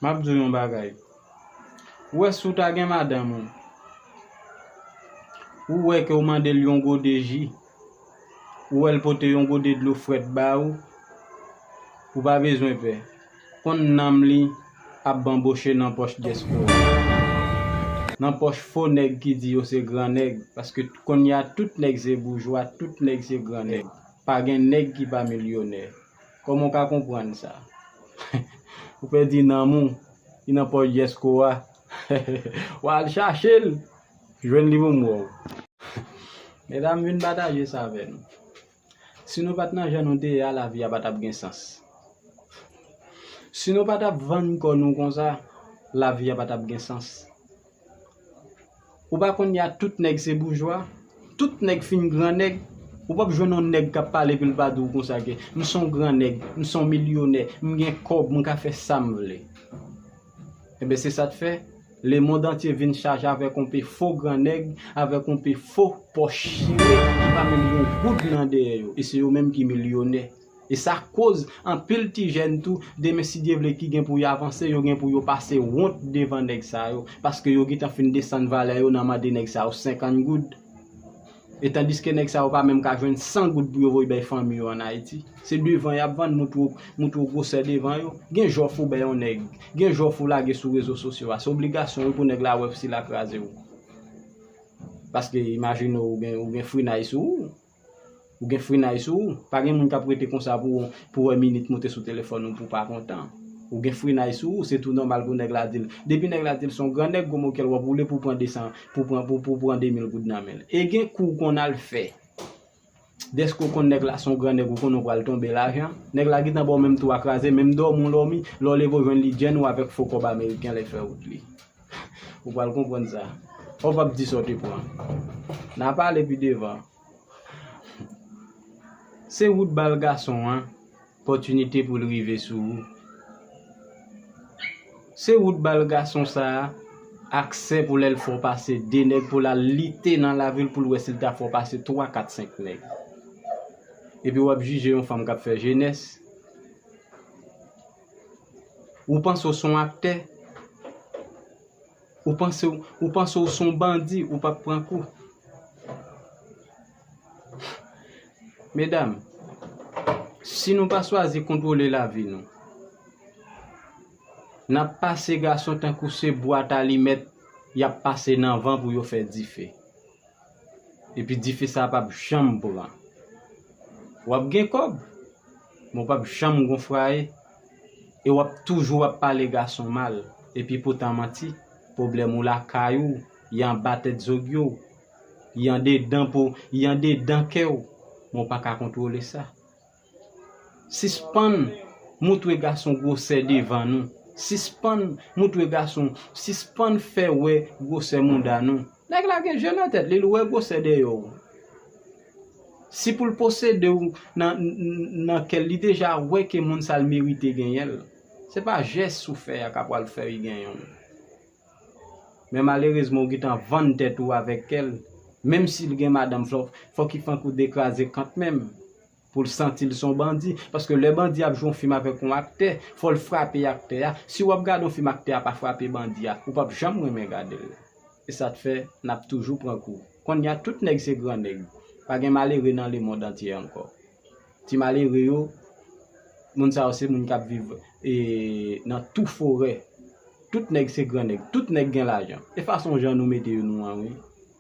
Map diw yon bagay. Ou wè si w ta gen madanm ou, ou wè ke w mande l yon gode ji, ou wè l pote yon gode dlo frèt ba ou, ou pa bezwen pè. Konn nanm li ap banboche nan pòch dyaspora. Nan pòch fo nèg ki di yo se gran nèg, paske kounya tout nèg se boujwa, tout nèg se gran nèg. Pa gen nèg ki pa milyonè. Kòman w ka konprann sa? Ou pèdi nanm ou ki nan pòch Jesco a. Wa al chache l, jwenn li pou m wè w. Medam m vin pataje sa avè nou. Si nou pa t nan jan nou te ye a lavi a pa t ap gen sans. Si nou pa t ap vann kò nou konsa lavi a pa t ap gen sans. Ou pa konn ya tout nèg se boujwa, tout nèg fin gran nèg, ou pap jwenn yon nèg kap pale epi l pa di w konsa ke m son gran nèg, m son milyonè, m gen kòb, m ka fè sa m vle. Enben se sa k fè, lemond antye vin chaje avèk yon pe fo gran nèg, avèk yon pe fo pòch chire ki pa menm gen yon goud nan dèyè yo, e se yo menm ki milyonè. E sa koz anpil ti jèn tou demen si Dye vle ki gen pou y avanse yo gen pou yo pase wont devan nèg sa yo paske yo gentan fin desann valè yo nan mande nèg sa yo 50 goud e tandiske nèg sa yo pa menm ka jwenn 100 goud pou yo voy bay fanmi yo an Ayiti. Se devan y ap vann moutro moutro gwosè devan yo. Gen jòf ou bay yon nèg, gen jòf ou lage sou rezo sosyo a se obligasyon wi pou nèg la wè si l a kraze w paske imajine w ou gen frinay sou ou. Ou gen frenay sou ou. Pa gen moun k ap rete konsa pou wè minit moute sou telefòn ou pou w pa kontan. Ou gen frenay sou ou, se tou nòmal pou nèg la di l. Depi nèg la di l se yon gran nèg, gwo mokèl, w ap woule pou w pran 200, pou w pran 2000 goud nan men l. E gen kou w konn al fè, dèske w konn nèg la se yon gran nèg, ou konnen w pral tonbe lajan, nèg la gentan ba w menm tou a kraze, menm dòmi w dòmi, lè w leve w jwenn li djèn ou avèk fo kòb ameriken lè l fè wout li. Ou pral konprann sa. Ou pap di sa w te pran. N'a pale pi devan. Se wout bal gason an, pòtinite pou l rive sou ou. Se wout bal gason sa, aksè pou lè l fè w pase 2 nèg pou l al lite nan lavi l pou l wè si l ta fè w pase 3, 4, 5 nèg. Epi wap jije yon fanm kap fè jenès. Ou panse w son aktè? Ou panse ou panse w son bandi ou pap pran kou? Medam, si nou pa swazi kontwole lavi nou, n ap pase gason tankou se bwat alimèt y ap pase nan van pou yo fè dife. Epi dife sa pap janm pran. Wap gen kob, men w pap janm gon fraye, e wap toujou ap pale gason mal, epi poutan manti, pwoblèm ou lakay ou, y anba tèt zogyo w, y andedan po, y andedan kè w, men w paka kontwole sa. Sispann moutre gason gwosè devan nou sispann moutre gason sispann fè wè gwosè mouda nou nèg la gen je nan tèt li l wè gwosè dèyè w si pou l posede w nan kè l li deja wè ke moun sa l merite genyen l se pa jès ou fè a ka pral fè li genyen w men malerezman ou gentan vann tèt ou avèk kè l menm si l gen madanm fòk li fè w dekraze kantmenm. Pou l santi l se yon bandi. Paske lè bandi ap jwe yon fim avèk yon aktè, fò l frape aktè a. Si w ap gade yon fim aktè a pa frape bandi a, ou p ap janm renmen gade l. E sa t fè n ap toujou pran kou. Kounye a tout nèg se gran nèg. Pa gen malere nan lemond antye ankò. Ti malere yo, moun sa yo se moun k ap viv nan tou forè. Tout nèg se gran nèg. Tout nèg gen lajan. E fason jan nou mete yo nou an wi.